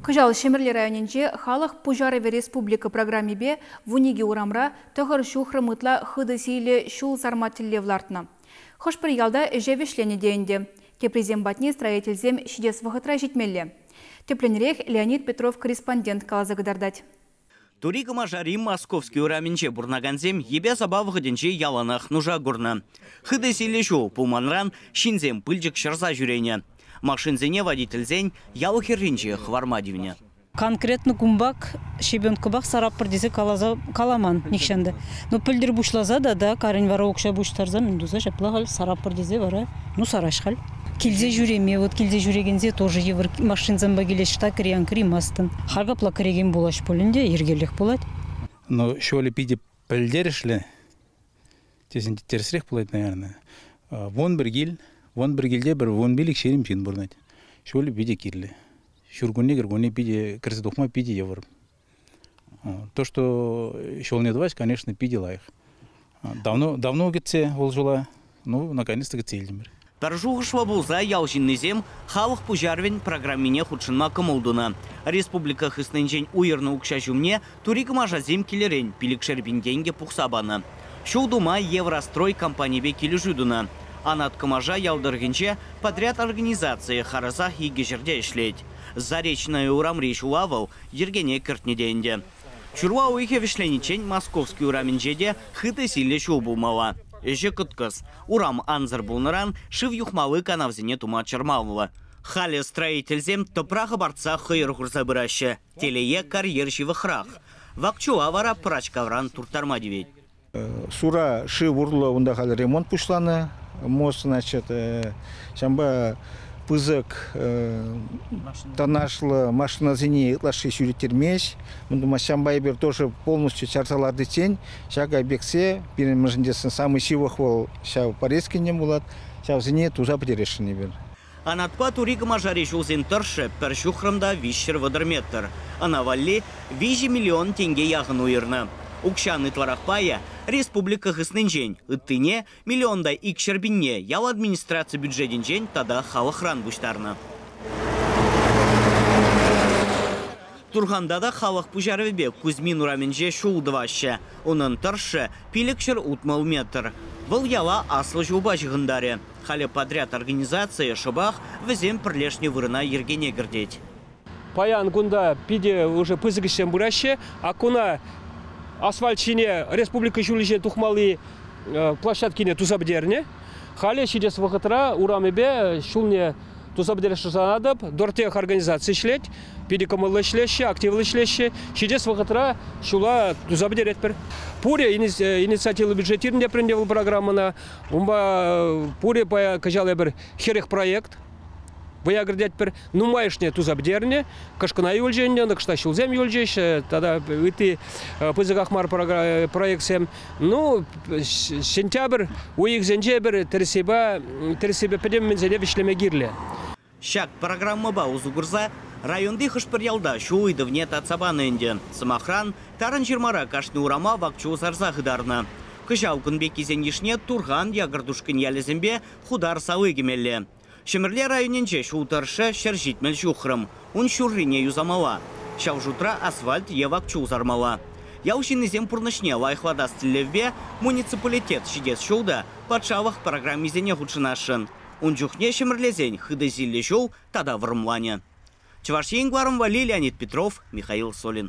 Кӑҫал Ҫӗмӗрле районӗнче «Халӑх пуҫарӑвӗ республика» программипе вун икӗ урамра тӑхӑр ҫухрӑм ытла хытӑ сийлӗ ҫул сарма тӗллев лартнӑ. Хӑш-пӗр ялта ӗҫе вӗҫленӗ те ӗнтӗ. Теприсем патне строительсем ҫитес вӑхӑтра ҫитмелле. Тӗплӗнрех Леонид Петров корреспондент каласа кӑтартать. Тури Кӑмашари Московски урамӗнче пурӑнакансем йӗпе-сапа вӑхӑтӗнче яланах нуша курнӑ. Хытӑ силлӗ ҫул пулманран ҫынсем пылчӑк ҫӑрса ҫӳренӗ. Машинсене водительсен ял хӗрринче хӑварма тивнӗ. Конкретнӑ кунпах щебенкӑпах сараппӑр тесе каласа каламан нихҫан та. Ну, пӗлтӗр пуҫласа тата карӗн вара укҫа пуҫтарса мӗн туса ҫапла халь сараппӑр тесе вара ну сарать халь. Килсе ҫӳреме, вот килсе ҫӳрекенсе тоже йывӑр машинсемпе килеҫҫӗ та кӗрен кӗримастӑн. Халь капла кӗрекен пулаҫ пулин те йӗркелӗх пулать. Но ҫолӗ питӗ пӗлтерӗшлӗ, тесен те тӗрӗсрех пулать, наверное. Вун пӗр кил, вун пӗр килте пӗр вун пилӗк ҫирӗм ҫын пурӑнать. Ҫулӗ питӗ кирлӗ. Ҫуркунне-кӗркунне питӗ кӗрсе тухма питӗ йывӑр. То, что ҫулне тӑваҫ, конечно, питӗ лайӑх. Давно, давно кӗтсе вӑл ҫула, ну, наконец-то кӗтсе илтӗмӗр. Пӗр шухӑшлӑ пулса ял ҫыннисем халӑх пуҫарӑвӗн программине хутшӑнма кӑмӑл тунӑ. Республика хыснинчен уйӑрнӑ укҫа ҫумне турикӑмашасем килӗрен пилӗкшер пин тенкӗ пухса панӑ. Ҫул тума Еврострой компанипе килӗшӳ тунӑ. Анат Кӑмаша ял тӑрӑхӗнче подряд организацийӗ харӑсах икӗ ҫӗрте ӗҫлет. Заречная урамри ҫула вӑл йӗркене кӗртнӗ те ӗнтӗ. Ҫурла уйӑхӗ вӗҫлениччен Московски урамӗнче те хытӑ-силлӗ ҫул пулмалла. Ӗҫӗ кӑткӑс, урам ансӑр пулнӑран шыв юхмалли канавсене тума чӑрмавлӑ. Халӗ строительсем тӑпра хӑпартса хӑйӑр хурса пыраҫҫӗ, телее карьер ҫывӑхрах. Вак чула вара пӑрачкавран турттарма тивет. Сура шыв урлӑ унта халӗ ремонт пуҫланӑ мост, значит, ҫавӑнпа пысӑк тоннажлӑ машинасене ытлашши ҫӳреттермест. Мӗн тумасть, ҫавӑнпа эпир тоже полностью чарса лартиччен ҫак объектсе пирӗн мӑшӑнчесен самый ҫывӑх вӑл ҫав Порецкинчен пулать, ҫавсене туса пӗтересшӗн эпир. Анатпа Тури Кӑмашари ҫулсен тӑршшӗ пӗр ҫухрӑм та виҫҫӗр вӑтӑр метр. Ӑна валли виҫӗ миллион тенке яхӑн уйӑрнӑ. Укҫан ытларах пайӗ республика хыснинчен, ыттине, миллион та икҫӗр пинне, ял администраци бюджетӗнчен тата халӑхран пуҫтарнӑ. Турханта та халӑх пуҫарӑвӗпе Кузьмин урамӗнче ҫул тӑваҫҫӗ. Унӑн тӑршшӗ, пилӗкҫӗр утмӑл метр. Вӑл яла аслӑ ҫулпа ҫыхӑнтарӗ. Халӗ подряд организацийӗ шӑпах вӗсем пӗрлешнӗ вырӑна йӗркене кӗртет. Паян кунта питӗ ӑшӑ пысӑк ӗҫсем пыраҫҫӗ. Акуна асфальт ҫине республика ҫулӗ ҫине тухмалли площадкине туса пӗтернӗ. Халӗ ҫитес вӑхӑтра урамӗпе ҫулне туса пӗтерес шутланатӑп. Дортех организаци ӗҫлет. Питӗ кӑмӑллӑ ӗҫлеҫҫӗ, активлӑ ӗҫлеҫҫӗ. Ҫитес вӑхӑтра ҫула туса пӗтеретпӗр. Пурӗ инициативлӑ бюджет иртӗнтӗпрӗ ӗнтӗ вӑл программӑна. Унпа пурӗ кӑҫал эпир хӗрӗх проект вӑя кӗртетпӗр. Нумайӑшне туса пӗтернӗ, кӑшкӑна юлчӗ ӗнтӗ, кӑшта ҫулсем юлчӗҫ, тата ытти пысӑках мар проектсем. Ну, сентябрь уйӑхсенче эпир тӗрӗссипе пӗтӗм мӗнсене вӗҫлеме кирлӗ. Ҫак программӑпа усӑ курса районти хӑш-пӗр ялта ҫу ыйтӑвне татса панӑ ӗнтӗ. Сӑмахран, Тарӑнҫырмара кашни урама вак-чул сарса хытарнӑ. Кӑҫал кун пеккисен йышне Турхан, Якӑртушкӑнь ялӗсемпе Хутар сали кӗмелле. Ҫӗмӗрле районӗнче ҫул тӑршшӗ ҫӗр ҫитмӗл ҫухрӑм, ун ҫуррине юсамалла. Ҫав шутра асфальт е вак-чул сармалла. Ял ҫыннисем пурнӑҫне лайӑхлатас тӗллевпе муниципалитет ҫитес ҫул та патшалӑх программисене хутшӑнасшӑн. Ун чухне ҫӗмӗрлесен хытӑ силлӗ ҫул тата вӑрӑмланӗ. Чӑваш Ен кӑларӑмвалли Леонид Петров, Михаил Солин.